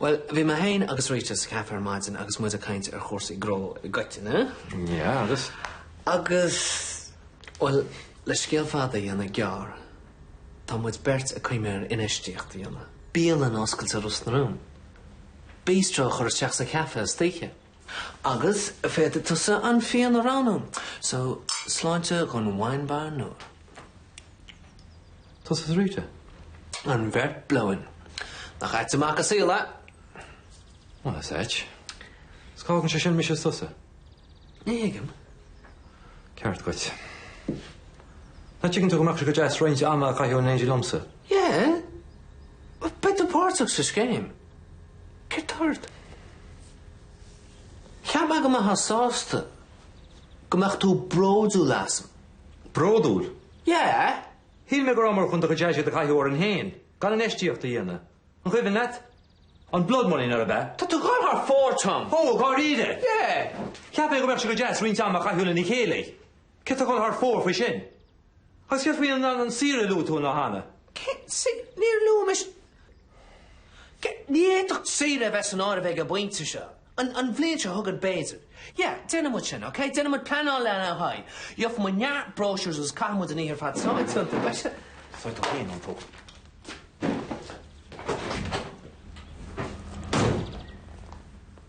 Bhuel, bhí mé féin agus Rita sa café ar maidin agus muid ag caint ar chúrsaí gnó i gcoitinne. Yeah, agus? Agus, bhuel, le scéal fada a dhéanamh gearr, tá muid beirt ag cuimhneamh ar infheistíocht a dhéanamh. Bialann a oscailt i Ros na Rún. Bistro a chur isteach sa chafé istoíche. Agus féadfaidh tusa an fíon a roghnú, so sláinte dhon wine bar nua. Tusa is Rita? An bheirt blow-in. Nach ait an mac an saol é? Bhuel, is ait. 'S cá fhágann sé sin mise is tusa? Ní thuigim. Ba cheart dhuit. Nach dtuigeann tú go mbeadh sé go deas roinnt ama a chaitheamh in éindí liomsa? Yeah. Beidh tú páirteach sa scéim. Céard tá ort? Cheapfá go mbeifeá sásta go mbeadh tú bródúil asam. Bródúil? Yeah! Shíl mé go raibh muid chun an t-airgead a chaitheamh orainn féin gan infheistíocht a dhéanamh. An cuimhin leat? An blood money, nárbh ea? Tá tú ag goil thar fóir, Tom! Ó, dháiríre? Yeah! Cheap mé go mbeadh sé go deas roinnt ama a chaitheamh lena chéile. Cé atá ag goil thar fóir faoi sin? Céard faoi an saoire a luaigh tú cheana? Níor luaigh mé sin. Ní fhéadfadh saoire a bheith san áireamh ag an bpointe seo. An bhliain seo chugainn b'fhéidir. Yeah, déanfaidh muid sin, okay? Déanfaidh muid pleanáil lena haghaidh. Gheobhaidh muid neart brochures agus caithfidh muid an oíche ar fad só ag tiontú, beidh sé? Faigh tú féin an t-ól.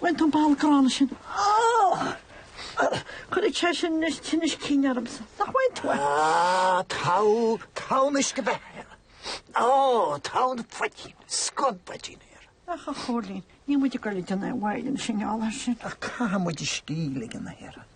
Bhain tú bail gránna sin. Cuirfidh sé sin anois tinneas cinn ormsa, nach bhfaigheann tú é? Tá tonn uisce beatha air. Ó, tonn phoitín, scuab poitín air. Ach a Chóilín, níl muid ag goil ag déanamh aon mhoill ina sinneáil air sin. Ach caithfidh muid a scíth a ligean.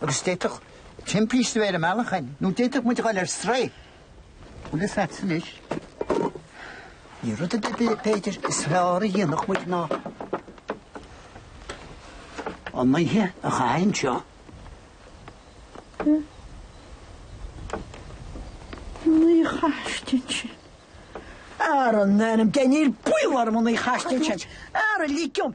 Agus d'fhéadfadh timpiste a bheith ar an mbealach againn, nó d'fhéadfadh muid a ghoil ar strae. Bhuel, is leatsa anois. Níl rud ar bith, b'fhéidir, is fearr a dhéanfadh muid ná an oíche a chaitheamh anseo. An oíche a chaitheamh anseo. Ara, in ainm Dé, níl baol orm an oíche a chaitheamh anseo. Ara, lig dom!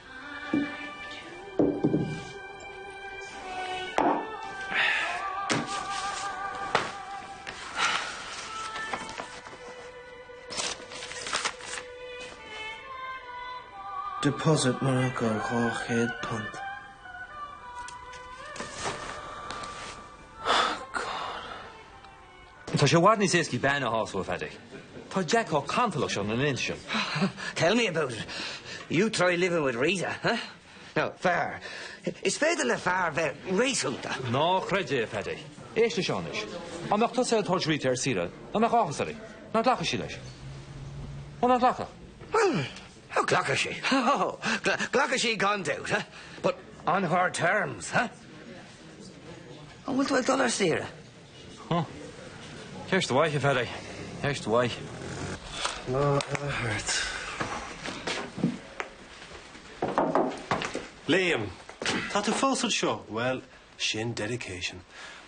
Deposit mar acu dhá chéad punt. Tá sé i bhfad níos éascaí bean a shásamh, a Pheaidí. Tá Jack chomh cantalach sin na laethanta seo. Tell me about it! You try living with Rita, huh? Now, fear, is féidir le fear bheith réasúnta. Ná creid é, a Pheaidí. Éist leis seo anois. Dá mbeadh tusa ag tabhairt Rita ar saoire, an mbeadh áthas uirthi? Nach nglacfadh sí leis? Ó, nach nglacfadh? Bhuel, ó glacfadh sí. Ó, glacfadh sí gan dabht, huh? But on her terms, huh? An bhfuil tú ag dul ar saoire? Huh. Ceist mhaith, a Pheaidí. Ceist mhaith. Lá eile thart. Liam, tá tú fós anseo. Bhuel, sin dedication.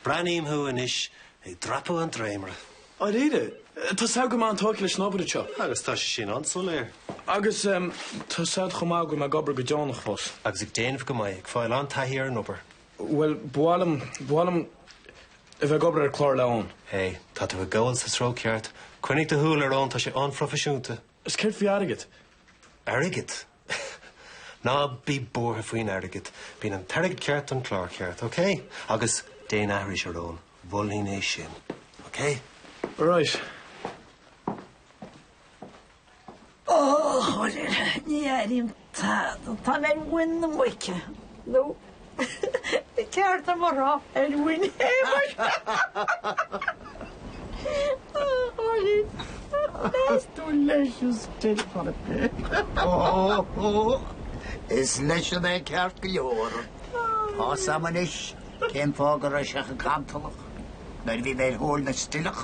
Breathnaím thú anois ag dreapadh an dréimire. Dáiríre, tá a fhios agat go bhfuil mé an-tógtha leis an obair anseo. Agus tá sé sin an-soiléir. Agus tá a fhios agat chomh maith go bhfuil mé ag obair go deonach fós. Agus ag déanamh go maith, ag fáil an-taithí ar an obair. Bhuel, ba mhaith liom, ba mhaith liom a bheith ag obair ar chlár le Eoin. Hé, tá tú ag gabháil sa treo ceart. Coinnigh do shúil ar Eoin, tá sé an-phroifisiúnta. 'S céard faoi airgead? Airgead? Ná bí buartha faoin airgead. Bíonn an t-airgead ceart don chlár ceart, océ? Agus déan aithris ar Eoin, mholfainn é sin, océ? Alright. Ó, chomhairle, ní airím tada, tá mé ar mhuin na muice, nó ba cheart dom a rá, ar mhuin Shéamais! Ó, chomhairle, meas tú an leis an stil chorp é? Is leisean é ceart go leor. Tá a fhios agam anois cén fáth go raibh sé chomh cantalach nuair a bhí mé ar thóir na stileach.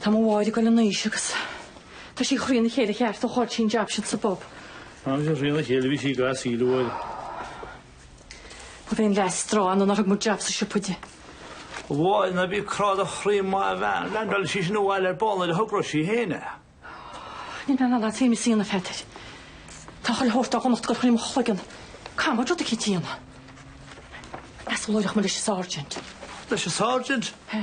Tá mo mháthair ag dul in aois agus tá sí trína chéile ceart ó chaill sí an jab sin sa bpub. Tháinig sí trína chéile, bhí sí ag gasc íle uair. Ba mhéan leath strae ann nár thug muid jab sa siopa di. A Mháire, ná bí ag crá do chroí maith an bhean, leaindeálfaidh sí sin abhaile ar ball nuair a thogróidh sí féin é. Níl mé in ann leat féin, a Síon, a Pheadair. Tá chuile shórt dá dhonacht ag dul thrí mo chloigeann camóid rud aici d'Fhíona. Meas tú an labhróidh mé leis an sáirsint. Leis an sáirsint? He.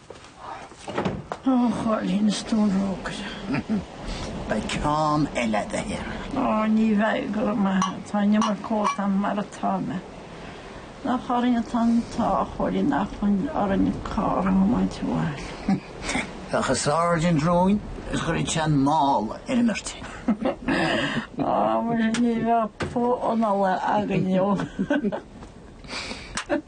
Ó, a Chóilín, is tú an rógaire. Beidh ceann eile agat air. Ó, ní bheidh, go raibh maith agat. Tá an iomarca ólta agam mar atá mé. Nach orainn atá an t-ádh, a Chóilín, nach bhfuil orainn carr a thiomáint abhaile. Bheadh an sáirsint romhainn is chuirfeadh sé an mála ar an mbeirt. Ó, muise, ní bheadh puth anála againn inniu.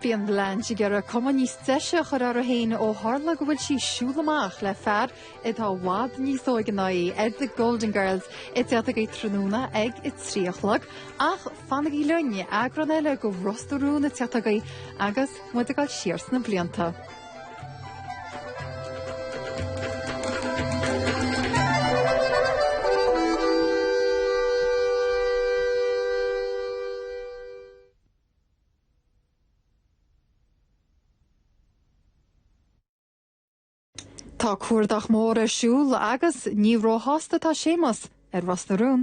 Bhí an Blanche ag iarraidh cuma níos deise a chur uirthi féin ó tharla go bhfuil sí ag siúl amach le fear atá i bhfad níos óige ná í, ar The Golden Girls ar TG4 tráthnóna ag a trí a chlog, ach fanaigí linn eagrán eile de Ros na Rún ar TG4 agus muid ag dul siar sna blianta. Tá cuardach mór ar siúl agus ní róshásta atá Séamus ar Ros na Rún.